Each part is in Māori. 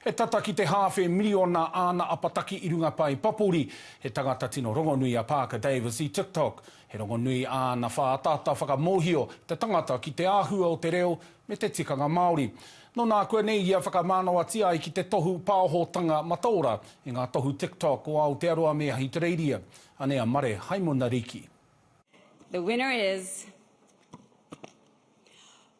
He tata ki te hāwhe miriona āna apataki i runga pae papori. He tangata tino rongonui a Parker Davis i TikTok. He rongonui āna whāataata whakamōhio te tangata ki te āhua o te reo me te tikanga Māori. Nō nā kua nei ia whakamānawatia ai ki te tohu pāohotanga mataora i ngā tohu TikTok o Aotearoa me Ahitereiria. Anei a Mare Haimonariki. The winner is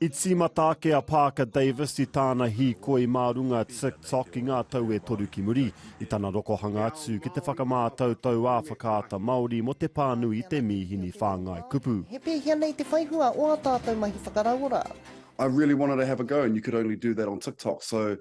I tīmata ake a Parker Davis i tāna hīkoi mā runga TikTok i ngā tau e toru ki muri, i tana rokohanga atu ki te whakamātautau ā-Whakaata Māori mō te pānui i te mīhini whāngai kupu. He pēhea nei te whaihua o ā tātou mahi whakarauora? I really wanted to have a go and you could only do that on TikTok so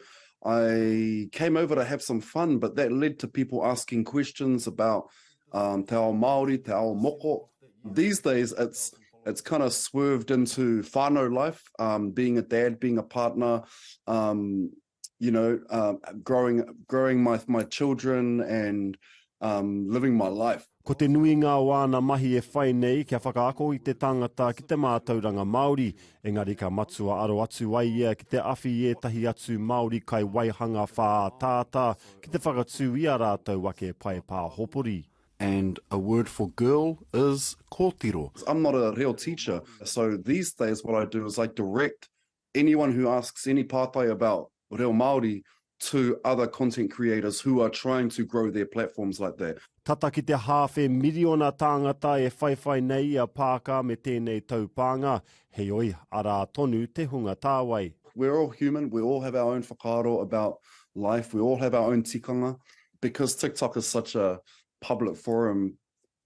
I came over to have some fun but that led to people asking questions about um, te ao Māori, te ao moko. These days, it's it's kind of swerved into whānau life, um, being a dad, being a partner, um, you know, uh, growing growing my my children and um, living my life. Ko te nuinga o āna mahi e whai nei kia whakaako i te tangata ki te mātauranga Māori, Engari ka matua aro atu ai ia ki te awhi i ētahi atu Māori kai waihanga whāataata ki te whakatū i ā rātou ake pae pāhopori. And a word for girl is kōtiro. I'm not a reo teacher, so these days what I do is I direct anyone who asks any pātai about reo Māori to other content creators who are trying to grow their platforms like that. Tata ki te hāwhe miriona tāngata e whaiwhai nei i a Paaka me tēnei taupānga, heoi, arā tonu te hunga tāwai. We're all human, we all have our own whakaaro about life, we all have our own tikanga. Because TikTok is such a public forum,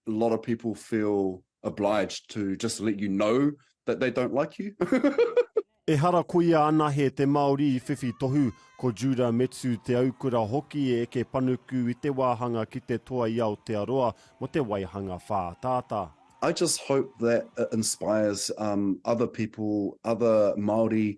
a lot of people feel obliged to just let you know that they don't like you. Ehara ko ia anahe te Māori i whiwhi tohu, ko Judah Metsu Te Aukura hoki e eke panuku i te wāhanga ki te toa i Aotearoa mō te waihanga whāataata. I just hope that it inspires other people, other Māori,